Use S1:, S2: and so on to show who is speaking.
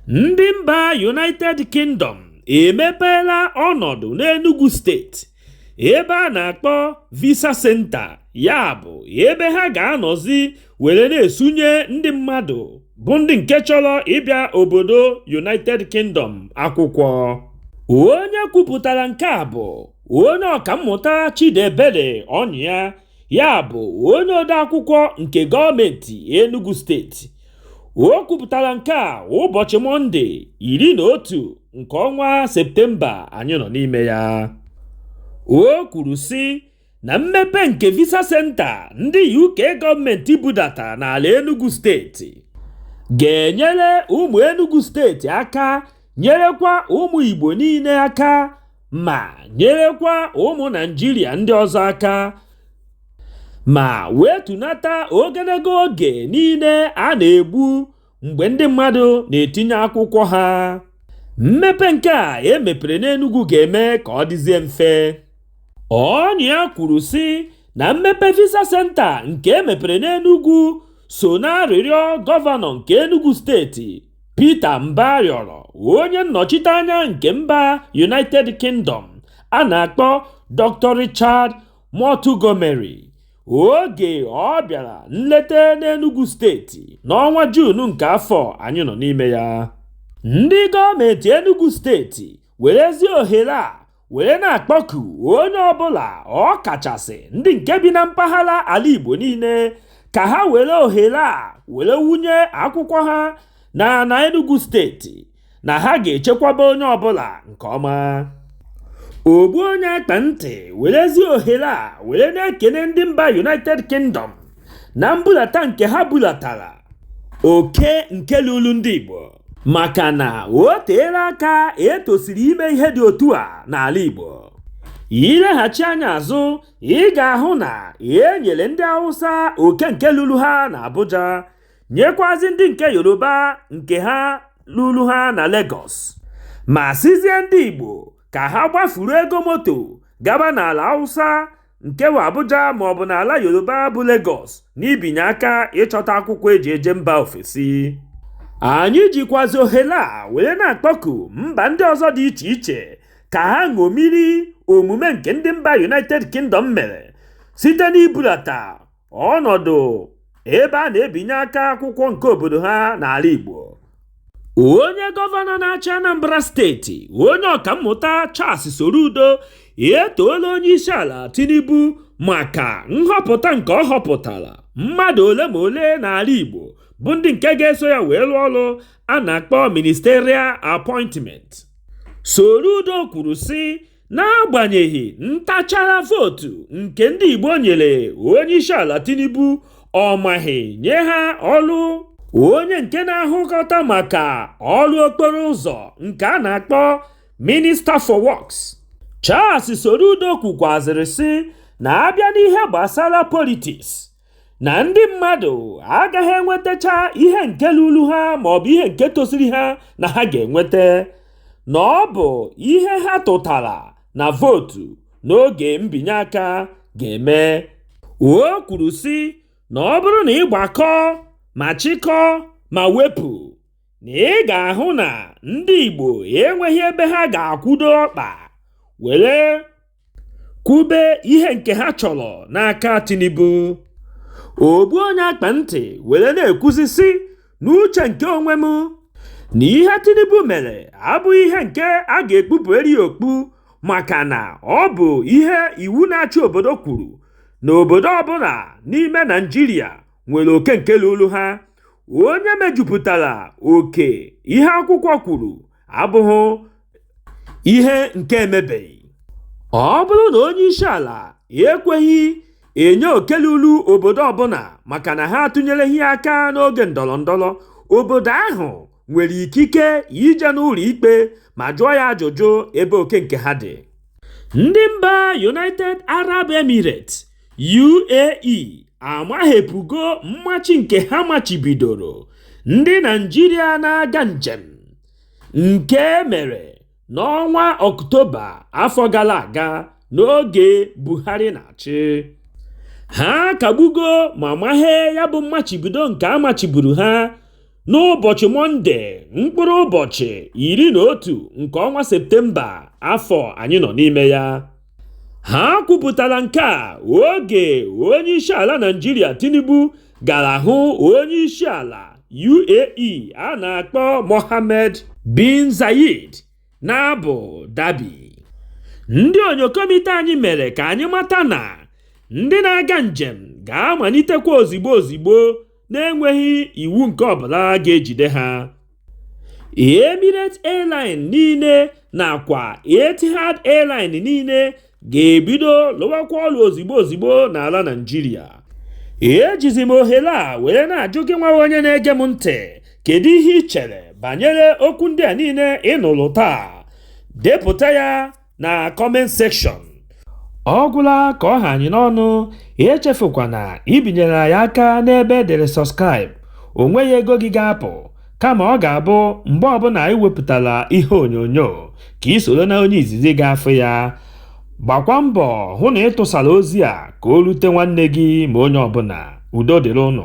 S1: ndị mba united kingdom emepeela ọnọdụ n'enugu steeti ebe a na-akpọ visa center ya bụ ebe ha ga-anọzi were na-esunye ndị mmadụ bụ ndị nke chọrọ ịbịa obodo united kingdom akwụkwọ onye kwupụtara nke a bụ onye ọkammụta chidiebere ọnyịa ya bụ onye odeakwụkwọ nke gọọmenti Enugu steeti o kwupụtara nke a ụbọchị mọnde iri na otu nke ọnwa septemba anyị nọ n'ime ya o kwuru sị na mmepe nke visa senta ndị UK gọọmenti budata n'ala Enugu steeti ga-enyere ụmụ Enugu steeti aka nyerekwa ụmụ Igbo niile aka ma nyerekwa ụmụ Naijiria ndị ọzọ aka ma wetunata ogologo oge niile a na-egbu mgbe ndị mmadụ na-etinye akwụkwọ ha mmepe nke a e mepere n'Enugu ga-eme ka ọ dịzie mfe Ọnyịa kwuru sị na mmepe visa senta nke e mepere n'Enugu so n'arịrịọ gọvanọ nke Enugu steeti Peter Mbah rịọrọ onye nnọchite anya nke mba United Kingdom a na-akpọ Dr Richard Montgomery oge ọ bịara nleta n'Enugwu steeti n'ọnwa Juun nke afọ anyị nọ n'ime ya. Ndị gọọmentị Enugwu steeti werezi ohere a were na-akpọku onye ọbụla ọ kachasị ndị nke bi na mpaghara ala Igbo niile ka ha were ohere a were wunye akwụkwọ ha na na Enugu steeti na ha ga-echekwaba onye ọbụla nke ọma ogbu onye akpa ntị werezi ohere a were na-ekene ndị mba United Kingdom na mbulata nke ha bulatara oke nke lulu ndị Igbo maka na o teela aka e tosiri ime ihe dị otu a n'ala Igbo i leghachi anya azụ ị ga-ahụ na e nyere ndị Hausa oke nke lulu ha na Abuja nyekwazi ndị nke Yoruba nke ha lulu ha na Lagos ma sịzie ndị Igbo ka ha gbafuru ego moto gaba n'ala Hausa nke bụ Abuja ma ọ bụ n'ala Yoruba bụ Lagos n'ibinye aka ịchọta akwụkwọ e ji eje mba ofesi anyị jikwazi ohere a were na-akpọku mba ndị ọzọ dị iche iche ka ha ṅomiri omume nke ndị mba United Kingdom mere site n'ibulata ọnọdụ ebe a na-ebinye aka akwụkwọ nke obodo ha n'ala Igbo onye gọvanọ na-achị Anambra steeti onye ọkammụta Charles Soludo etoola onye isi ala Tinubu maka nhọpụta nke ọ họpụtara mmadụ ole ma ole n'ala Igbo bụ ndị nke ga-eso ya wee lụọ ọrụ a na-akpọ ministerial appointment Soludo kwuru sị n'agbanyeghị ntachara vootu nke ndị Igbo nyere onyeisiala Tinubu ọ maghị nye ha ọrụ onye nke na-ahụkọta maka ọrụ okporo ụzọ nke a na-akpọ Minister for Works Charles Soludo kwukwazịrị sị na a bịa n'ihe gbasara politiks na ndị mmadụ agaghị enwetacha ihe nke lulu ha ma ọ bụ ihe nke tosiri ha na ha ga-enweta na ọ bụ ihe ha tụtara na vootu n'oge mbinye aka ga-eme o kwuru sị na ọ bụrụ na ị gbakọ ma chịkọ ma wepụ na ị ga-ahụ na ndị Igbo enweghị ebe ha ga-akwụdo ọkpa were kwube ihe nke ha chọrọ n'aka Tinubu ogbu onye akpa ntị were na-ekwuzi sị n'uche nke onwe m na ihe Tinubu mere abụghị ihe nke a ga-ekpupụrụ ya okpu maka na ọ bụ ihe iwu na-achị obodo kwuru na obodo ọbụla n'ime Naịjirịa nwere oke nke lulu ha onye mejupụtara oke ihe akwụkwọ kwuru abụghị ihe nke emebeghị ọ bụrụ na onye isi ala ekweghị enye oke lulu obodo ọbụla maka na ha atụnyereghị aka n'oge ndọrọ ndọrọ obodo ahụ nwere ikike ije n'ụlọ ikpe ma jụọ ya ajụjụ ebe oke nke ha dị ndị mba united arab emirates UAE amaghepụgo mmachi nke ha machibidoro ndị Naịjirịa na-aga njem nke e mere n'ọnwa Ọktoba afọ gara aga n'oge Buhari na-achị. Ha kagbugo ma maghee ya bụ mmachibido nke a machiburu ha n'ụbọchị Mọnde mkpụrụ ụbọchị iri na otu nke ọnwa Septemba afọ anyị nọ n'ime ya. ha kwupụtara nke a oge onye isi ala naịjirịa tinubu gara hụ onye isi ala uae a na-akpọ mohammed bin zayed na abu dhabi ndị onyokomite anyị mere ka anyị mata na ndị na-aga njem ga-amalitekwa ozigbo ozigbo na-enweghị iwu nke ọbụla ga-ejide ha Emirates Airline niile nakwa Etihad Airline niile ga-ebido lụwakwa ọlụ ozigbo ozigbo n'ala Naịjirịa ejizi m ohere a were na-ajụ gị nwa onye na-ege m ntị kedu ihe i chere banyere okwu ndị a niile ị nụrụ taa depụta ya na comment section ọ gwụla ka ọ ha anyị n'ọnụ echefukwana ibinyere anyị aka n'ebe e dere subscribe o nweghị ego gị ga-apụ kama ọ ga-abụ mgbe ọbụla anyị wepụtara ihe onyonyo ka i soro na onye izizi ga-afụ ya gbakwa mbọ hụ na ị tụsara ozi a ka o rute nwanne gị ma onye ọbụla udo dịrị ụnụ